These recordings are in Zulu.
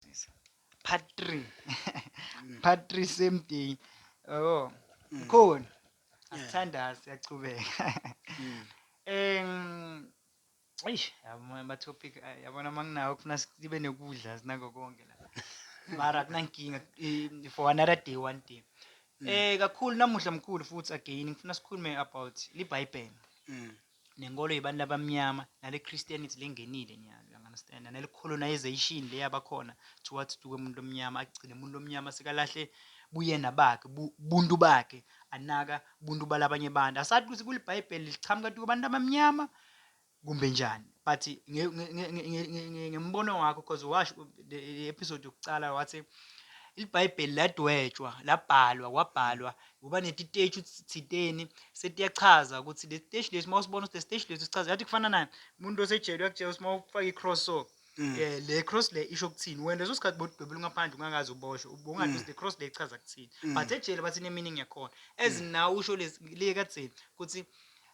Sisa. Part 3. Part 3 same day. Oh. Khona. Asithanda siyachubeka. Em Eish, yabona ama topic ay- yabona manginawo kufuna sibe nekudla sinako konke la. Mara kunankinga eh, for another day one day. Eh kakhulu namuhla mkhulu futhi again ngifuna sikhulume about liBhayibheli. nenkolo yebantu abamnyama nale Christianity lengenile nyalo you understand nale colonization le yabakhona towards to umuntu omnyama agcine umuntu omnyama sekalahle buyena bakhe buntu bakhe anaka buntu balabanye abantu asathi ukuthi kulibhayibheli lichamuka tu abantu abamnyama kumbe njani but ngembono wakho because wash the episode yokucala wathi ilibhayibheli ladwetshwa labhalwa kwabhalwa kuba netiteshi thiteni setiyachaza ukuthi le siteshi lesi uma usibona ukuthi le siteshi lesi sichaza yathi kufana naye umuntu osejele uyakutshela ukuthi uma ufake i-cross so um le cross le isho ukuthini wena leso sikhathi bodubela ungaphandle ungakazi uboshwe ubongathi ukuthi mm. le cross le ichaza kuthini mm. but ejele bathi ne-meaning yakhona as now usho lesi le kadzeni ukuthi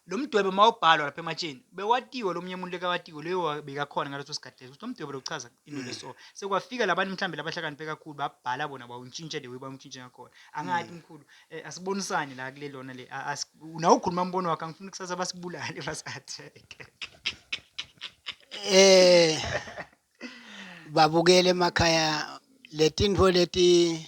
Lo mdwebo mawubhalwa lapha ematsheni bewatiwe lo munye umuntu lekawatiwe leyo wa- bekakhona ngaleso sikhathi leso ukuthi lo mdwebo lokuchaza into leso sekwafika labantu mhlawumbe labahlakaniphe kakhulu babhala bona bawuntshintshe the way bawuntshintshe ngakhona angathi mkhulu eh, asibonisani la kule lona le a- asi- nawe ukhuluma umbono wakhe angifuni kusasa basibulale basatheke eh babukele emakhaya letintfo leti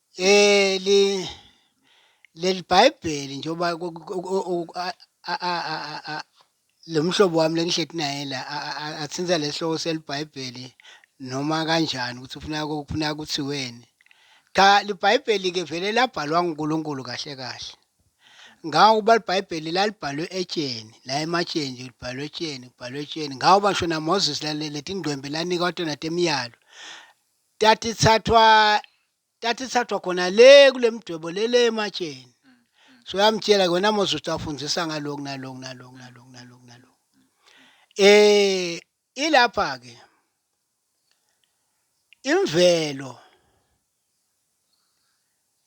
Leli leli Bhayibheli njengoba lo mhlobo wami lengihleti naye la athinta lesihloko seliBhayibheli noma kanjani ukuthi ufuna kufuna kuthiweni. Cha liBhayibheli-ke vele labhalwa nguNkulunkulu kahle kahle. Ngawukuba liBhayibheli lalibhalwe etsheni, la ematsheni nje libhalwe etsheni, kubhalwe etsheni. Ngawuba ngisho naMoses lale letingcwembe lanikwa tona temiyalo. Tata ithathwa tata ithathwa khona le kule mdwebo le le ematsheni. Mm, mm. So yamtshela kona Moses ukuthi afundisa ngaloku naloku naloku naloku naloku naloku. Eh ilapha ke imvelo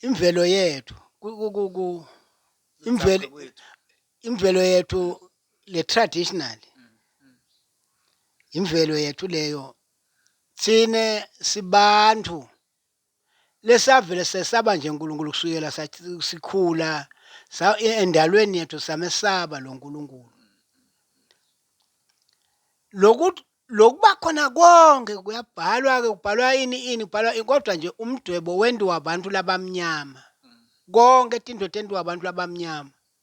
imvelo yethu imvelo imvelo yethu le traditional mm, imvelo yethu leyo Thina sibantu lesavele sesaba nje uNkulunkulu kusukela sathi sikhula sa e- endalweni yethu samesaba lo Nkulunkulu. Lokuthi lokuba khona konke kuyabhalwa ke kubhalwa ini ini kubhalwa ini, kodwa nje umdwebo wentiwa abantu labamnyama. Konke tintfo tentiwa abantu labamnyama.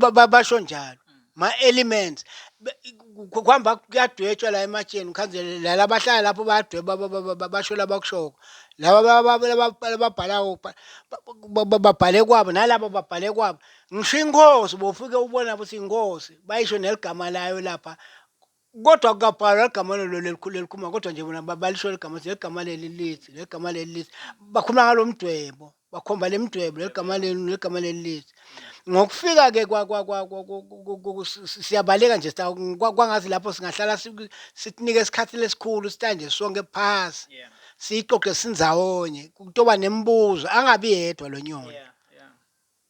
Ba- ba- basho njalo ma-elements Be- ku- ku- kuhamba kuyadwetshwa la ematsheni khanzele la labahlala lapho bayadweba ba- ba- ba- ba- basho labakushoko laba ba- ba- laba- laba- babhalawo ba- ba- ba- babhale kwabo nalaba babhale kwabo ngisho inkosi bofike ubona ukuthi inkosi bayisho neligama layo lapha Kodwa akukabhalwa igama lelo lelikhulu lelikhuluma kodwa nje bona ba- balisho legama ukuthi legama leli lithi legama leli lithi bakhuluma ngalo mdwebo bakhomba le mdwebo legama leli legama leli lithi ngokufika ke kwa kwa kwa kwa- ku- ku- ku- ku- si- si- siyabaleka nje sita kwa- kwangathi lapho singahlala si- sitinike isikhathi lesikhulu sitanje sonke phasi Yeah. siyixoxe sindzawonye kutoba nemibuzo angabi yedwa lo nyoni Yeah. Yeah.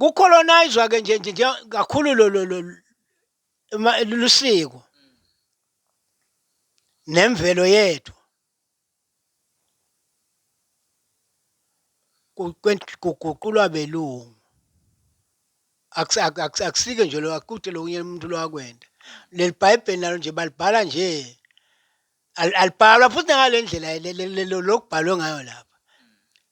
kucolonizwa ke nje nje nje kakhulu lo lo lo ma- lusiko nemvelo yethu Ku- kwen- kuguqulwa belungu Akusi- ak- ak- akusike nje lo akude lokunye umuntu lwakwenda leli bhayibheli nalo nje balibhala nje Al- alibhalwa futhi nangale ndlela le- le- le- lo- lokubhalwe ngayo lapha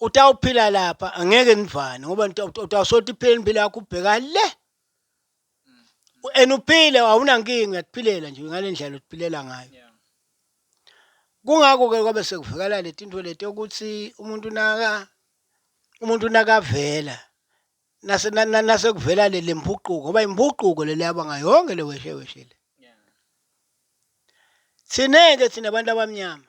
utawuphila lapha angeke nivane ngoba utawusothi iphile impilo yakho ubheka le and uphile awunankinga uyakuphilela nje ngale ndlela otiphilela ngayo kungakho-ke kwabe sekuvikela leti nto leti yokuthi umuntu naka umuntu nakavela nase nasekuvela le lempuquko ngoba impuquko le leyaba ngayo yonke le weshe weshe le thina-ke thina abantu abamnyama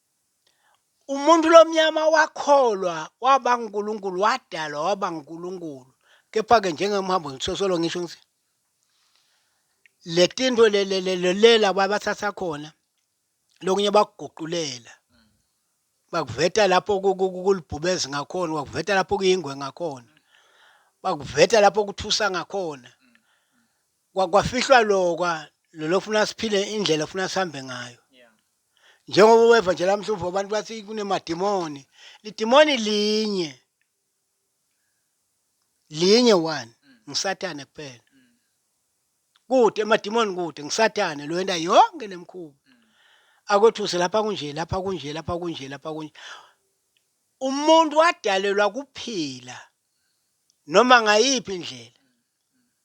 Umuntu lomnyama wakholwa waba nguNkulunkulu, wadalwa waba nguNkulunkulu. Kepha-ke njengemhambo ngisosolo ngisho ngithi le tinto lelela babathatha khona lokunye bakuguqulela bakuveta lapho kulibhubezi ngakhona bakuveta lapho kuyingwe ngakhona bakuveta lapho kuthusa ngakhona kwa, kwafihlwa lokwa lona ofuna siphile indlela ofuna sihambe ngayo njengoba weva nje lamhlumvu abantu bathi kunemadimoni lidimoni linye linye one ngisathane kuphela kude emadimoni kude ngisathane lo enda yonke lemkhuba akwethuse lapha kunje lapha kunje lapha kunje lapha kunje umuntu wadalelwa kuphila noma ngayiphi indlela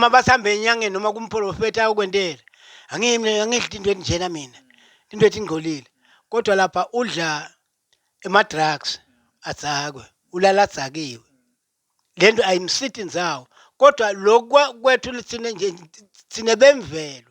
mabasihambe enyangeni noma kumprofethi ayokwentela angiyi mina angidli into enjena mina into ethi ingcolile kodwa lapha udla ema-drugs adzakwe ulala adzakiwe le nto ayimsiti ndzawo kodwa lokwa kwethu lithina nje thina bemvelo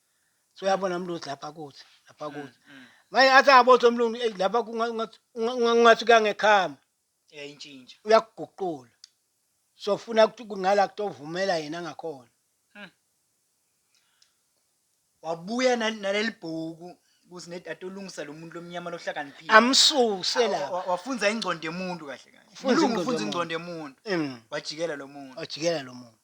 so uyabona mlungu lapha kuthi lapha mm, kuthi mm. manje athi angabotha umlungu eyi lapha kungathi kuyangekhama yayintshintsha uyakuguqula so funa ukuthi kungala kutovumela yena ngakhona hmm. wabuya naleli bhuku kuthi nedata olungisa lo muntu lomnyama lohlakaniphile amsuse la wafunza ingcondo emuntu kahle kahle ufunza ingcondo emuntu mm. wajikela lo muntu wajikela lo muntu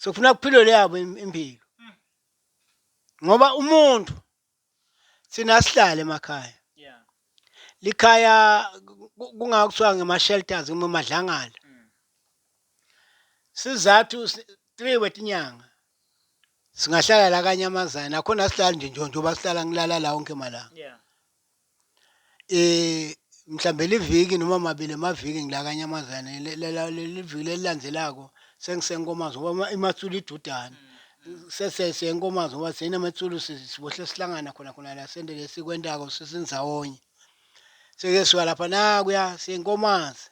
sokufuna kuphilwe leyabo impilo ngoba umuntu sina sihlale emakhaya likhaya kungakuswa ngema-shelters uma madlangala mm. sizathu three wetinyanga singahlala la kanyamazana akhona sihlala nje njengoba sihlala ngilala la wonke malanga Mhlawumbe liviki noma mabili amaviki ngila kaNyamazane leli viki leli landzelako sengise Nkomazi ngoba iMatsulu idudane. Sese siye Nkomazi ngoba thina Metsulu sibohle sihlangana khona khona la sente lesikwentako sise ndzawonye. Sike suka lapha nakuya siye Nkomazi,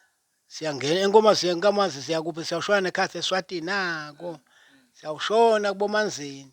siyangena eNkomazi siye Nkomazi siya kuphi siyawushona nekhathi eSwatini nako, siyawushona kuboManzini.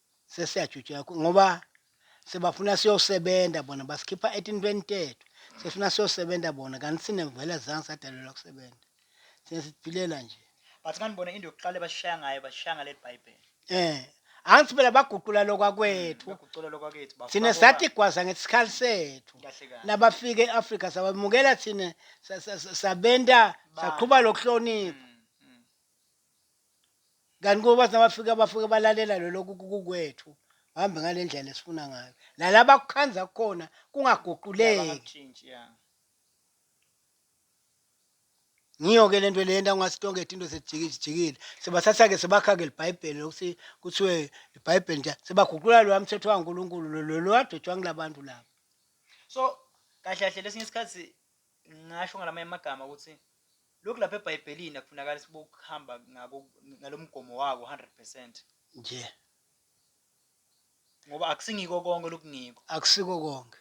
sesiyajutsheka ngoba sebafuna siyosebenza bona basikhipha etintweni tethu sefuna siyosebenza bona kanti sine vele zange sadalelwa kusebenza sine siphilela nje but manje bona into yokuqala basishaya ngayo basishaya ngaleli bhayibheli eh angithi phela baguqula lokwakwethu mm, baguqula lokwakwethu thina sathi gwaza ngesikhali sethu nabafike e-afrika sabamukela thina sabenta saqhuba lokuhlonipha mm. kanti kuba nabafika bafike balalela lolokhu kukwethu hambe ngale ndlela esifuna ngayo nalaba kukhanza kukhona kungaguquleki ngiyo-ke le nto le nto angasitongeda into sejikijikile sibathatha-ke sibakha-ke libhayibheli lokuthi kuthiwe ibhayibheli nje sebaguqula loya mthetho wankulunkulu lolo wadwetshwa ngila bantu laba so kahle kahle lesinye isikhathi ngasho ngalamanye amagama ukuthi Lokhu lapha eBhayibhelini akufunakali sibokuhamba ngako ngalomgomo wako 100 percent. Nje. Ngoba akusingiko konke lokungiko. Akusiko konke.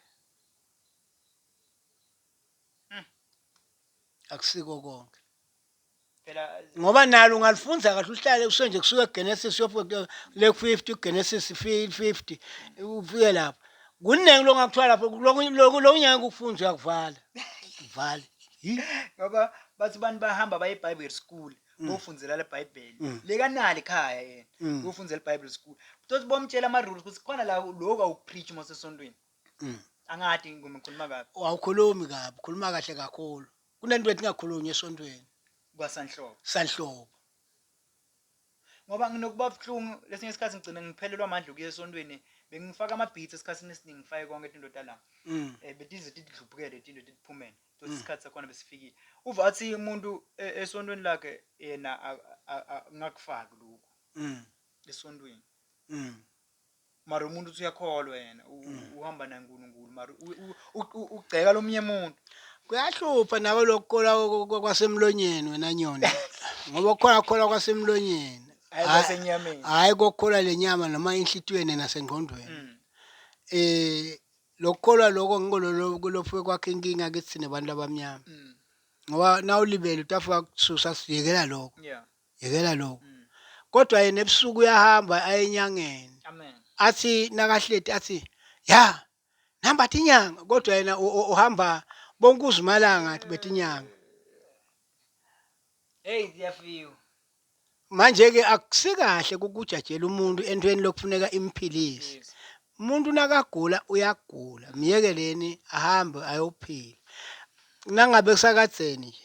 Hmm. Akusiko konke. Phela ngoba nalo ungalifunda kahle uhlale usenje kusuka eGenesis uyofika le 50 uGenesis 50 ufike lapho. Kuningi lokungakuthiwa lapho lokho lokho ngeke ukufunde uyakuvala. Vale. ngoba bathi abantu bahamba baye ebible school mm. bofundzela lebhayibheli mm. lekanali khaya yena mm. bofundzela ebible school kutothi bomtshela ama-rules ukuthi khona la loku awukupreach uma usesontweni angadi ngoma ngikhuluma kabi awukhulumi kabi khuluma kahle kakhulu kunento ethi ngakhulunywa esontweni kwasanhlobo sanhlobo Ngoba nginokuba buhlungu lesinye isikhathi ngigcine ngiphelelwa amandla okuya esontweni bengifaka ama-beats esikhathini esiningi ngifake konke into talanga um eh, betize tidlubukele into tiphumele tothi isikhathi sakhona besifikile uva athi umuntu e- esontweni lakhe yena a- a- a- ngakufaki lokhu esontweni mara umuntu uthi uyakholwa yena u- u- uhamba naye unkulunkulu mara u- u- u- u- ugceka lomunye muntu kuyahlupha nako lokukholwa kwa- kwa- kwa- kwasemlonyeni wena nyoni ngoba kukhona kukholwa kwasemlonyeni Hhayi Hhayi- kwasenyameni. hhayi kokukholwa le nyama noma enhlitiyweni nasengqondweni Mm. um lokukholwa loko ngikololophuke kwakhe inkinga kithi thina bantu abamnyama Mm. ngoba nawulibele utafika kususa sivikela lokho yeah Yekela lokho. Kodwa yena ebusuku uyahamba aye enyangeni. Amen. Athi nakahleti athi, "Ya, nihamba thi inyanga." Kodwa yena u- u- uhamba bonke uzimalanga athi bethi inyanga. Hey, ziyafika. Manje ke akusikahle ukujajela umuntu entweni lokufuneka imphilise. Yes. Umuntu nakagula uyagula, myekeleni ahambe ayophila. Nangabe kusakadzeni nje.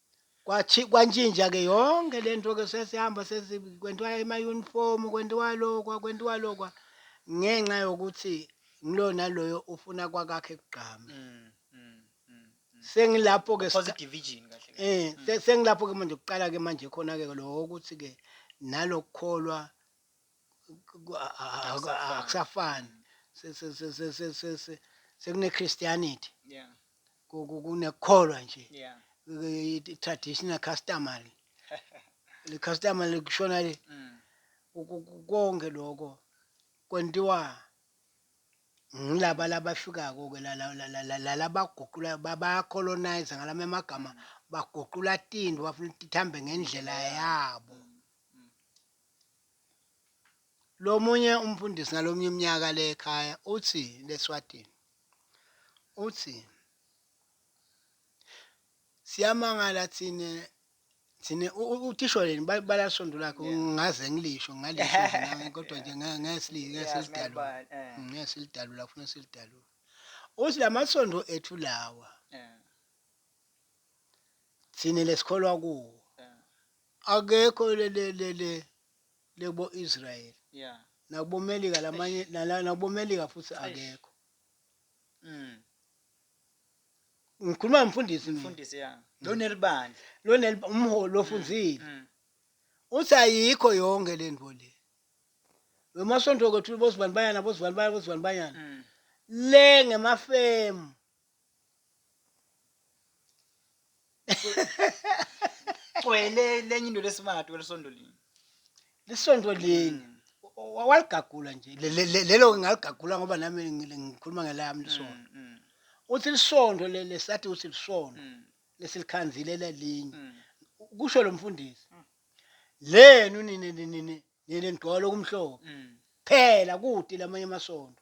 Kwathi kwantshintsha-ke yonke le nto-ke sesihamba kwenziwa emayunifomu kwenziwa lokwa kwenziwa lokwa ngenxa yokuthi ngilo naloyo ufuna kwakakhe kugqame mm, mm, mm, mm. sengilapho-ke um sengilapho-ke manje kuqala-ke manje khona-ke lo ukuthi-ke nalokukholwa akusafani sekune Christianity yeah kunekukholwa nje yeah traditional customary le customary kushona le mm. konke lokho kwentiwa ngilaba labafika-ko ke lalabaguqula bayacolonize ngalama amagama baguqula tinto bafuna ukuthi tihambe ngendlela yabo Lo munye umfundisi ngalomnye umnyaka le ekhaya uthi leSwatini uthi siyamangala thina thina utishoreni balibala isondo lakhe ngaze ngilisho ngalisho kodwa nje ngesilidalula ngesilidalula kufuna silidalula uthi lamasondo ethu lawa thina lesikholwa kuwo Akekho le le le le lebo Israel. Yeah. Nakubo Melika lamanye nala- nakubo Melika futhi Eish. akekho. Mm. Ngikhuluma nomfundisi mina. Mfundisi ya. Donel bandla. Lona li- umholi lofunzile. Mm. Uthi ayikho yonke le nto le. Wemasonto kwethu bosibani bayana bosibani bayana bosibani bayana. Mm. Le ngemafemu. cwele lenye into lesimati welisondolini lisondolini waligagula nje lelo ngingaligagula ngoba nami ngikhuluma ngelami lisondo mm, mm. uthi lisondo lele sathi uthi lisondo mm. lesilikhanzile lelinye kusho lo mfundisi lenu nini nini nini nidwala okumhlophe phela kude lamanye amasondo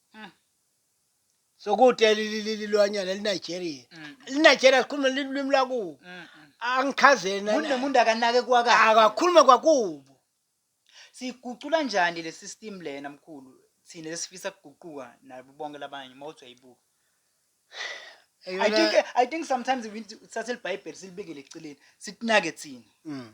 Mm. Sokude lilililwanyana liNigeria. Mm. LiNigeria likhuluma lilimi lakubo. Mm. mm. Angichazeni Umuntu nani. nomuntu akanake kwakhe. Akakhuluma kwakubo. Sigucula njani le system lena mkhulu? Thina lesifisa kuguquka nabo bonke labanye uma uthi uyayibuka. I Eyona- think eh, I think sometimes we need to thathe libhayibheli silibekele eceleni. Sitinake thina. Mm.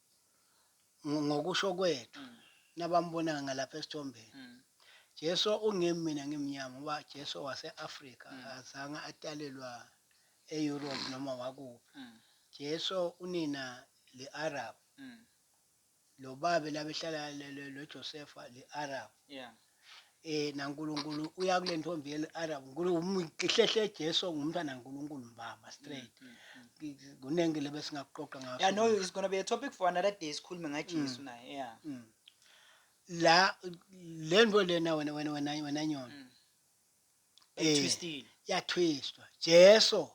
Ngokusho kwethu nabambonayo ngalapha esithombeni. Mm. Jesu ungemi mina ngimnyama ngoba Jesu wase-Afrika mm. azange atalelwa e-Europe noma wakuphi. Mm. Jesu unina li-Arab. Mm. Lo babe labehlala lo Josefa li-Arab. Yeah. eh naNkulunkulu uya kule ntombi yeli Arab ngihlehle Jesu ngumntana kaNkulunkulu mbamba straight mm, mm, mm. kuningi lebe singakuqoqa ngaso yeah no it's going to be a topic for another day sikhulume ngaJesu mm. naye yeah mm. la le nto lena wena wena wena wena nyona mm. eh twistile yathwistwa Jesu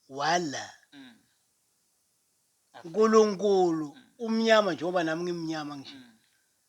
wala mm. uNkulunkulu mm. umnyama njengoba nami ngimnyama nje mm.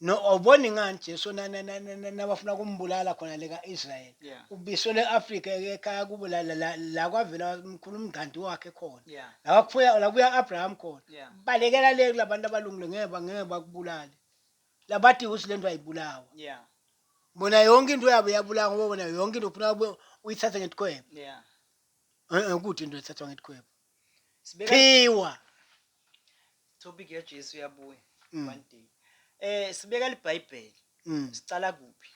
No awuboni ngani Jesu na- na- na- na- na- nabafuna kumbulala khona le ka-Israel. Yeah. Ubiselwe e-Afrika eke ekhaya kubo la- la- la- la kwavela mkhulu umngqandu wakhe khona. Yeah. La kwakufuya la kuya Abraham khona. Yeah. Balekela le kulabantu abalungile ngeke ba- ngeke bakubulale. Labati ukuthi lento ayibulawa. Yeah. Bona yonke into yabo yabulawa ngoba bona yonke into ufuna ube uyithathe ngetikhwebo. Yeah. Eh eh kude into ethathwa ngetikhwebo. Sibeka Phiwa. topic ya Jesu yabuya Mm. one day. Eh sibeka libhayibheli. Mm. Sicala kuphi?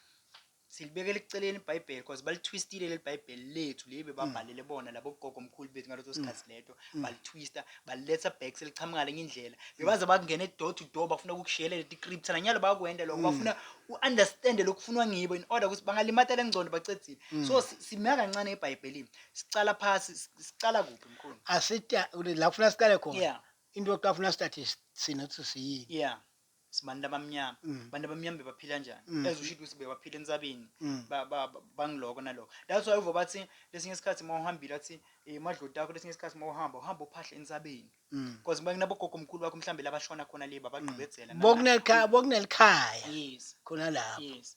Silibekela eceleni ibhayibheli because balitwistile leli bhayibheli lethu leli bebabhalele bona labo gogo omkhulu bethu ngaleso sikhathi leto balitwista baliletha back seliqhamuka lenye indlela bebaze bakungena door to door bafuna ukukushiyela leti script nanyalo bakwenda lokho bafuna u-understand lokufunwa ngibo in order ukuthi bangalimata lengcondo bacedzile so si- simeka kancane ebhayibhelini Sicala phasi, sicala kuphi mkhulu? Asita la kufuna siqale khona. Yeah. Into yokuqala kufuna sithathe sina ukuthi siyini. Yeah. sibantu abamnyama mm. abantu abamnyama bebaphila kanjani mm. as ushito ukuthi bebaphila entsabeni mm. bangiloko naloko that's why uva bathi lesinye isikhathi uma uhambile athi eh, madloti akho lesinye isikhathi uma uhamba uhamba uphahla entsabeni because uma kunabogogo mkhulu wakho mhlawumbe labashona khona le babagqibedzela bokunelikhaya yes khona lapho yes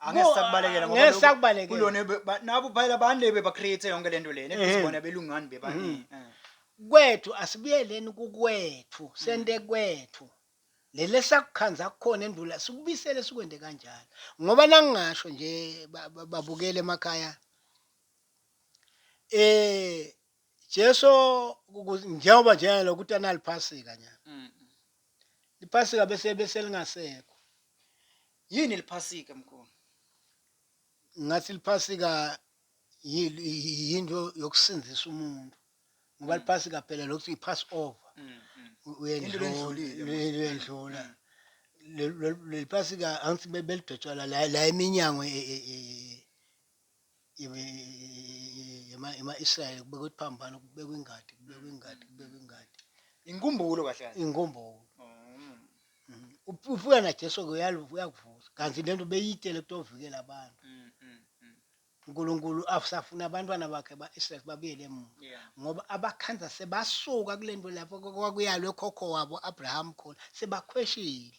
angeke sakubalekela ngoba ngeke sakubalekela. kulona ebe- ba- nabo phela bande bebacreate yonke lento lena Ehhe. ebizibona belungani bebaningi Eh. kwethu asibuyeleni kukwethu sente kwethu lele sakukhanza kukhona endula sikubisele sikwende kanjalo ngoba nangingasho nje ba- ba- babukele emakhaya eh Jesu njengoba njengalo ukuthi analiphasika nya. Mm. Liphasika bese bese lingasekho. Yini liphasika mkhulu? Ngathi liphasika yinto yokusindisa umuntu. Ngoba mm. liphasika phela lokuthi ipass over. Mm, mm. Uyendlula uyendlula. Leliphasika angithi belidotshwala la eminyango e, e, e, yama-Israyeli kubekwa ukuthi phambana kubekwa ingadi kubekwa ingadi kubekwa ingadi inkumbulo kahle kahle inkumbulo uphula na Jesu ke uyakuvusa kanti lento beyitele kutovikela abantu mm, mm, mm. uNkulunkulu afusafuna abantwana bakhe ba-Israel babuyele emuva ngoba abakhanza sebasuka kule nto lapho kwakuyalwe khokho wabo Abraham khona sebakhweshile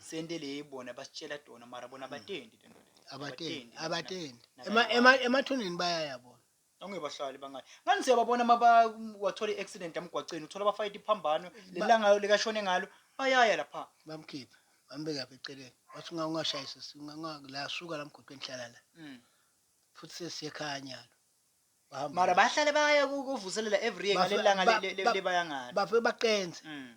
sente le bona basitshela tona mara bona abatendi le nto le abatendi abatendi Ema- ema- emathuneni bayaya bona ongebahlali bangani ngani siyababona uma ba- wathola i-accident emgwaceni uthola bafayita iphambano lelanga likashone ngalo bayaya lapha bamkhiphe bambeke apha eceleni wathi unga- ungashayisa si- unga- unga- la suka la mgwaqeni hlala la Mm. futhi sesiyekhanya lo Bahamba mara la. bahlale baya ku- kuvuselela every year Bafe- ngalelanga ba- le- le- ba- lebaya ngalo bafike baqenze Mm.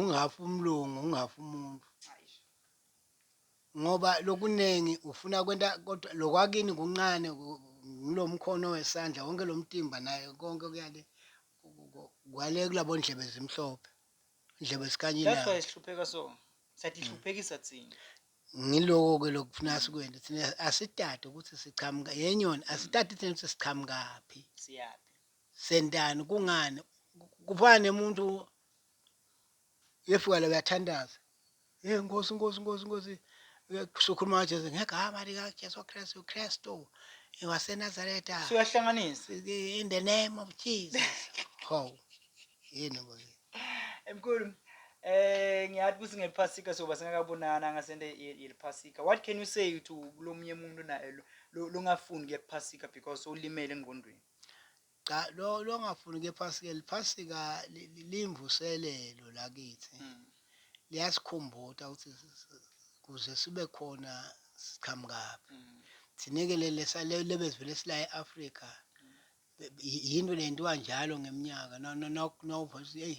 ungafa umlungu ungafa umuntu ngoba lokuningi ufuna kwenta kodwa lokwakini kuncane ngilo mkhono wesandla wonke lo mtimba naye konke kuyale kwale kulabo ndlebe zimhlophe ndlebe sikanyile that's why sihlupheka so sathi hluphekisa thina ngiloko ke lokufuna sikwenze thina asitade ukuthi sichamuka yenyoni asitade thina ukuthi sichamuka phi siyaphi Sentani kungani kufana nemuntu yefuka la uyathandaza hey nkosi nkosi nkosi nkosi sokhuluma kajesu ngegama likajesu kristu kristu wasenazareta suyahlanganisa in the name of jesus how yini bo emkhulu Eh ngiyathi kuthi ngephasika soba singakabonana ngasende yeliphasika. What can you say to kulomunye umuntu naye longafuni kuye kuphasika because ulimele engqondweni? Cha lo lo ngafuni ke Phasika liphasika limvuselelo la kithi. Mm. Liyasikhumbuta ukuthi kuze sibe khona siqhamukaphi. Mm. Thineke lele sale lebezivele sila eAfrika. Mm. Yinto lenziwa njalo ngeminyaka no no no no hey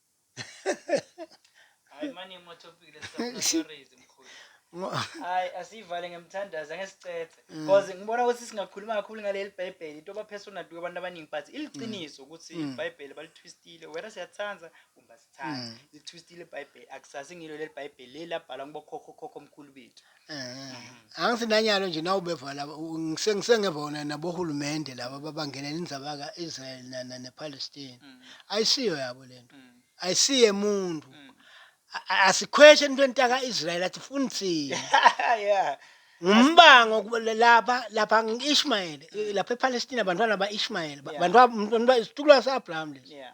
Hayi manje uma topic lesifakazi mkhulu. Hayi asivale ngemthandazo ngesicece. Mm. Because ngibona ukuthi singakhuluma kakhulu ngaleli Bhayibheli into ba personal to abantu abaningi but iliqiniso mm. ukuthi mm. iBhayibheli balitwistile whether siyathanda kumbe sithanda. Litwistile iBhayibheli akusasi ngilo leli Bhayibheli leli labhalwa ngokhokho khokho omkhulu bethu. Eh, angisinanyalo nje nawubeva laba ngise- ngisengeva wona nabohulumende laba babangenela indzaba ka-israel na- na- nepalestine ayisiyo yabo le nto ayisiye muntu A- a- asikhweshe entweni taka-israyeli atifuni thina yeah ngumbango kuba- la- lapha lapha ngi-ishmayeli eh, lapha epalestina bantwana ba-ishmayeli ba- Yeah. bantwa- mntwana ba- isitukulwa sa-abraham lesi yeah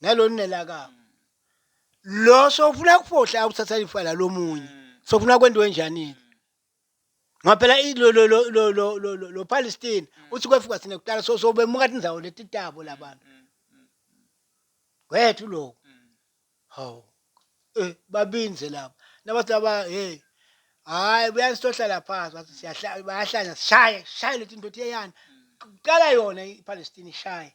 nalonela ka lo sofuna kufohla ukuthatha ifa la lomunye sofuna kwendiwe njani ngoba phela lo lo lo lo lo lo lo lo Palestine uthi kwefika sine kuqala so so bemuka indzawo letitabo labantu wethu lo hawu eh babinze laba nabathi laba hey hayi buyasihlala phansi bathi siyahlala bayahlanya sishaye sishaye letinto theyana kuqala yona iPalestine ishaye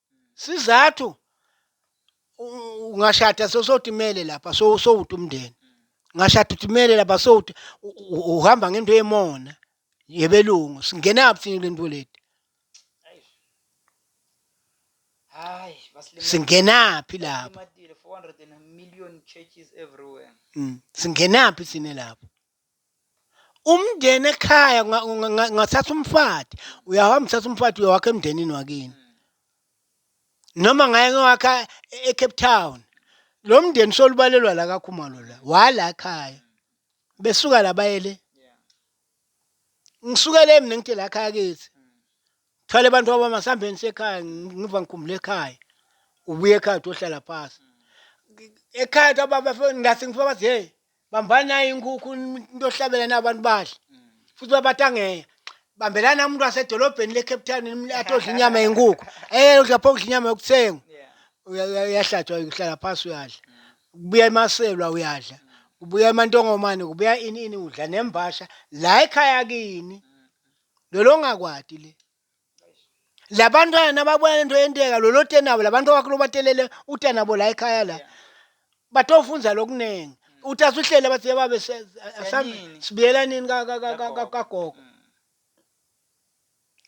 sizathu ungashada sosotimele lapha so sowuthi umndeni ngashada utimele lapha sowuthi uhamba ngento yemona yebelungu singenaphi thina kule nto leti hayi singenaphi lapho mm, singenaphi thina lapho umndeni ekhaya nga- nga- nga- ngathatha umfati uyahamba uthatha umfati uyowakha emndenini wakini noma ngaye ngowakha e- ecape town lo mndeni solubalelwa la kakhumalo la wala ekhaya besuka la bayele ngisukele mina ngithi la khaya kithi thwale abantu wabama sihambeni sekhaya ngi- ngiva ngikhumbula ekhaya ubuye ekhaya uthi ohlala phasi ekhaya uthi ababa fe- ngathi ngifika bathi hey bambani nayo inkukhu into ohlabela na abantu badle futhi babatangeya bambelana umuntu wasedolobheni le-cape town nim- athi odla inyama yenkukhu eye udla pho kudla inyama yokuthengwa Uya- uya- uyahlatshwa uhlala phasi uyadla kubuya emaselwa uyadla kubuya emantongomane kubuya ini ini udla nembasha la ekhaya kini lolo ngakwati le labantwana nababona lento yenteka lolote nabo labantu bakho lobatelele uta nabo la ekhaya la batofundza lokuningi utase uhlele bathi yebabe se- asam- Senini. sibuyela nini ka- ka- ka- ka- ka- kagogo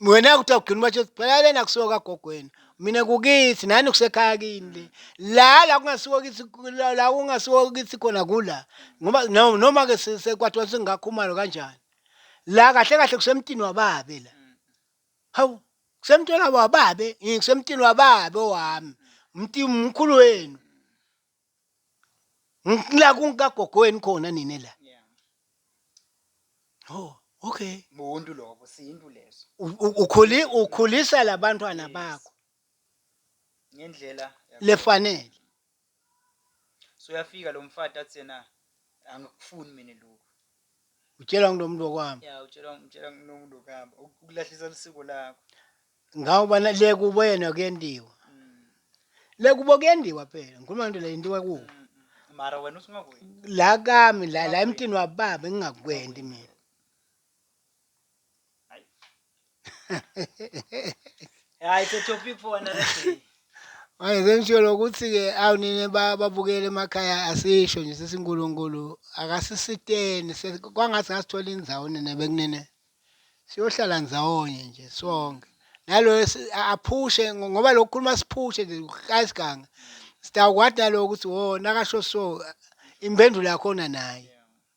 Mm. wena kuthiwa ugcina ubatsho phela lena akusiwo kagogo wena mina kukithi nani kusekhaya kini le la la kungasiwo kithi la la kungasiwo kithi khona kula ngoba no- noma-ke se- sekwathiwa singakhumalo kanjani la kahle kahle kusemtini wababe la hawu kusemtini wabo wababe eh, kusemtini wababe owami mti mkhulu wenu Ng- la kunkagogo wenu khona nine la Yeah. oh okay Buntu lobo sintu leso. U- u- ukhuli ukhulisa labantwana Yes. bakho Ngendlela yakho. lefanele soyafika lo mfati athi yena angikufuni mina lokhu utshelwa ngulo muntu wakwami ya utshelwa utshelwa ngulo muntu wakwami uk- ukulahlisa lisiko lakho ngawuba na- le kubo yena kuyendiwa Mm, le kubo kuyendiwa phela ngikhuluma ngento le yendiwa kubo mm, mm. mara wena uthi ungakwenzi la kami la la emntini wababa engingakwendi mina Yeah, it's a topic for another day. manje sengisho lokuthi-ke awu nini ba- babukele emakhaya asisho nje sithi unkulunkulu akasisiteni se- kwangathi ngasithola indzawo nina bekunene siyohlala ndzawonye nje sonke naloyo si- a- aphushe ngo- ngoba lokhu khuluma siphushe nje kayisiganga sitawukwati nalowo ukuthi wo nakasho so impendulo yakhona naye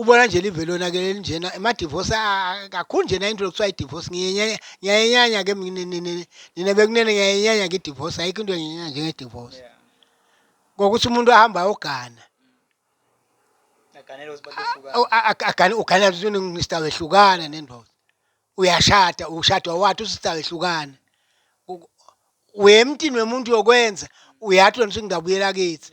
ubona nje live lonakele elinjena amadivosi kakhulu njena into lokuthiwa idivosi ngiyayenyanya ke nina bekunene ngiyayenyanya ke idivosi ayikho into enginyanya njengedivosi ngokuthi umuntu ahamba ayogana agane ugana usista wehlukana nendoda uyashada ushadwa wathi usista wehlukana uye emntini wemuntu yokwenza uyathi wena usingidabuyela kithi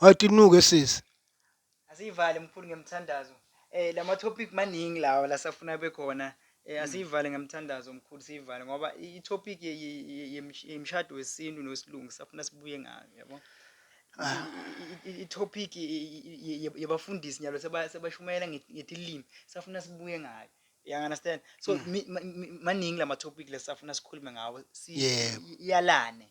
Wathi unuke sisi. Asiyivale mkhulu ngemthandazo. Eh lama topic maningi lawa la safuna bekhona. Eh asiyivale ngemthandazo mkhulu siyivale ngoba i topic ye- ye- ye- yemsh- yemshado wesintu nosilungu safuna sibuye ngayo yabo. I- i- I topic ye- ye- ye- yabafundisi nyalo seba- sebashumayela nge- ngetilimi safuna sibuye ngayo. You understand? So mi- ma- mi- maningi lama topic lesafuna sikhulume ngawo. Si- Yebo. i- Iyalane.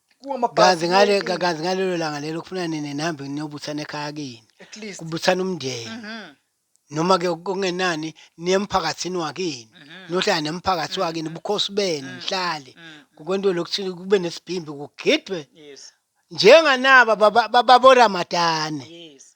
kazi ngale kazi ngalelo langa lelo kufuna nini nihambe niyobuthana ekhaya kini at least kubuthana umndeni Mhm. noma ke kungenani niye emphakathini wakini Mhm. nohlala nemphakathi Mhm. wakini ubukhosi benu Mhm. nihlale Mhm. kukwento lokuthi kube nesibhimbi kugidwe yes njenganaba baba- baba boramadane yes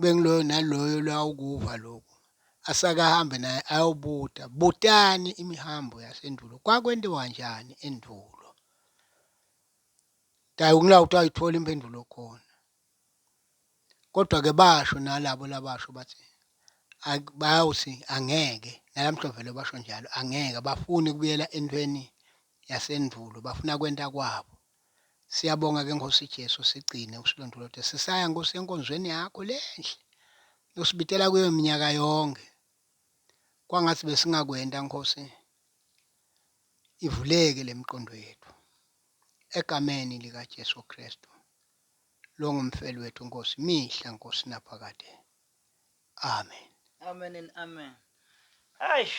Bengiloyo naloyo lwawukuva lokhu asakahambe naye ayobuta butani imihambo yasendulo kwakwendiwa njani endulo tayi ukula ukuthi ayithola impendulo khona kodwa ke basho nalabo labasho bathi bayawuthi angeke nalamhla vele basho njalo angeke bafuni kubuyela entweni yasendulo bafuna kwenta kwabo Siyabonga ke Nkosi Jesu sigcine usilondolote sisaya Nkosi enkonzweni yakho lenhle nosibitela kuyo iminyaka yonke. Kwangathi besingakwenta Nkosi ivuleke lemiqondo yethu egameni lika Jesu Kristu longumfeli wethu Nkosi mihla Nkosi naphakade. Amen. Amen and amen. Eish.